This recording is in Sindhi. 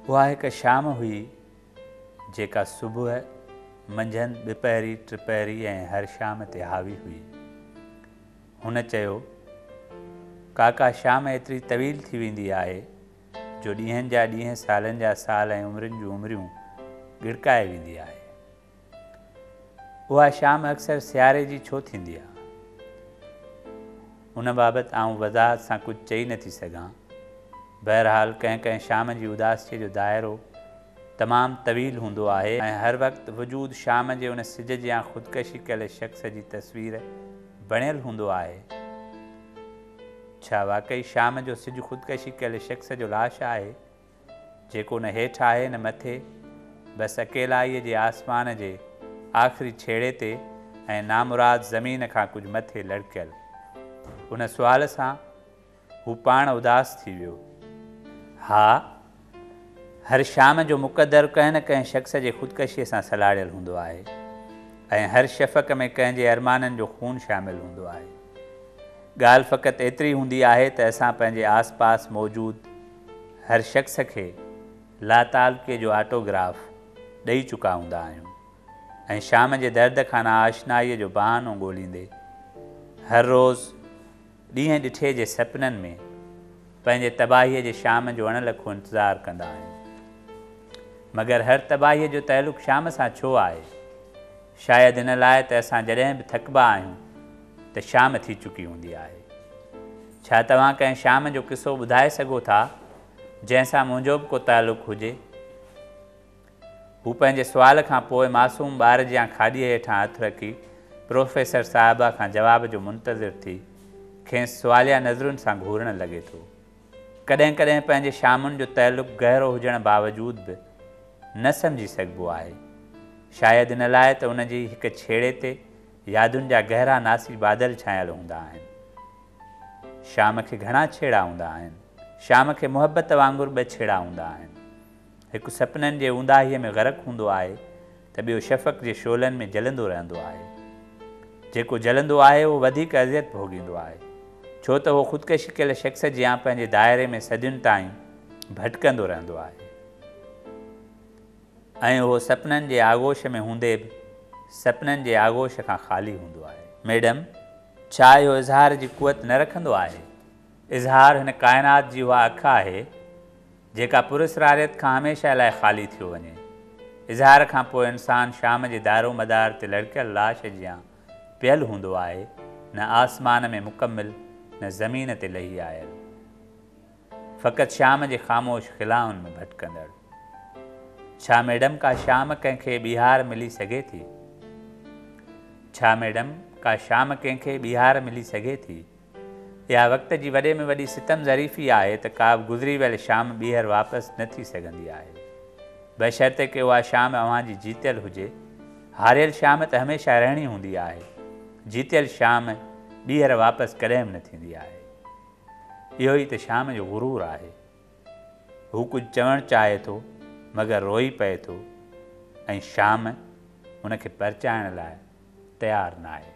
اها هڪ شام هئي، جيڪا صبح، منجهند، ٻپهري، ٽپهري ۽ هر شام تي حاوي هئي. هن چيو، ڪاڪا شام ايتري طويل ٿي ويندي آهي، جو ڏينهن جا ڏينهن، سالن جا سال ۽ عمرين جون عمريون ڳڙڪائي ويندي آهي. اها شام اڪثر سياري جي ڇو ٿيندي آهي؟ ان بابت آئون وضاحت سان ڪجهه چئي نه ٿي سگهان. بهرحال ڪنهن ڪنهن شام جي اداسيء جو دائرو تمام طويل هوندو آهي ۽ هر وقت وجود شام جي ان سج جيان خودڪشي ڪيل شخص جي تصوير بڻيل هوندو آهي. ڇا واقعي شام جو سج خودڪشي ڪيل شخص جو لاش آهي؟ جيڪو نه هيٺ آهي نه مٿي، بس اڪيلائيء جي آسمان جي آخري ڇيڙي تي ۽ نامراد زمين کان ڪجهه مٿي لڙڪيل. ان سوال سان هو پاڻ اداس ٿي ويو. ها، هر شام جو مقدر ڪنهن نه ڪنهن شخص جي خودڪشيء سان سلهاڙيل هوندو آهي ۽ هر شفق ۾ ڪنهن جي ارمانن جو خون شامل هوندو آهي. ڳالهه فقط ايتري هوندي آهي ته اسان پنهنجي آسپاس موجود هر شخص کي لاتعلقي جو آٽو گراف ڏئي چڪا هوندا آهيون ۽ شام جي درد کان ناآشنائيء جو بهانو ڳوليندي هر روز ڏينهن ڏٺي جي سپنن ۾ پنهنجي تباهيء جي شام جو اڻ لکو انتظار ڪندا آهيون. مگر هر تباهيء جو تعلق شام سان ڇو آهي؟ شايد ان لاء ته اسان جڏهن به ٿڪبا آهيون ته شام ٿي چڪي هوندي آهي. ڇا توهان ڪنهن شام جو قصو ٻڌائي سگهو ٿا جنهن سان منهنجو به ڪو تعلق هجي؟ هو پنهنجي سوال کان پوء معصوم ٻار جيان کاڏيء هيٺان هٿ رکي پروفيسر صاحبه کان جواب جو منتظر ٿي کيس سواليه نظرن سان گهورڻ لڳي ٿو. ڪڏهن ڪڏهن پنهنجي شامن جو تعلق گهرو هجڻ باوجود به نه سمجهي سگهبو آهي. شايد ان لاء ته ان جي هڪ ڇيڙي تي يادن جا گهرا ناسي بادل ڇانيل هوندا آهن. شام کي گهڻا ڇيڙا هوندا آهن. شام کي محبت وانگر ٻه ڇيڙا هوندا آهن. هڪ سپنن جي اونداهيء ۾ غرق هوندو آهي. ته ٻيو شفق جي شعلن ۾ جلندو رهندو آهي. جيڪو جلندو آهي اهو وڌيڪ اذيت ڀوڳيندو آهي، ڇو ته اهو خودڪشي ڪيل شخص جيان پنهنجي دائري ۾ صدين تائين ڀٽڪندو رهندو آهي ۽ اهو سپنن جي آغوش ۾ هوندي به سپنن جي آغوش کان خالي هوندو آهي. ميڊم، ڇا اهو اظهار جي قوت نه رکندو آهي؟ اظهار هن ڪائنات جي اها اک آهي، جيڪا پراسراريت کان هميشه لاء خالي ٿيو وڃي. اظهار کان پوء انسان شام جي دارومدار تي لڙڪيل لاش جيان پيل هوندو آهي، نه آسمان ۾ مڪمل نه زمين تي لهي آيل. فقط شام جي خاموش خلائن ۾ ڀٽڪندڙ. ڇا ميڊم ڪا شام ڪنهن کي ٻيهار ملي سگهي ٿي؟ ڇا ميڊم ڪا شام ڪنهن کي ٻيهار ملي سگهي ٿي؟ اها وقت جي وڏي ۾ وڏي ستم ظريفي آهي ته ڪا به گذري ويل شام ٻيهر واپس نه ٿي سگهندي آهي. بشرطيڪه اها شام اوهان جي جيتيل هجي. هاريل شام ته هميشه رهڻي هوندي آهي. جيتيل شام ٻيهر واپس ڪڏهن به نه ٿيندي آهي. اهو ئي ته شام جو غرور آهي. هو ڪجهه چوڻ چاهي ٿو مگر روئي پئي ٿو ۽ شام هن کي پرچائڻ لاء تيار ناهي.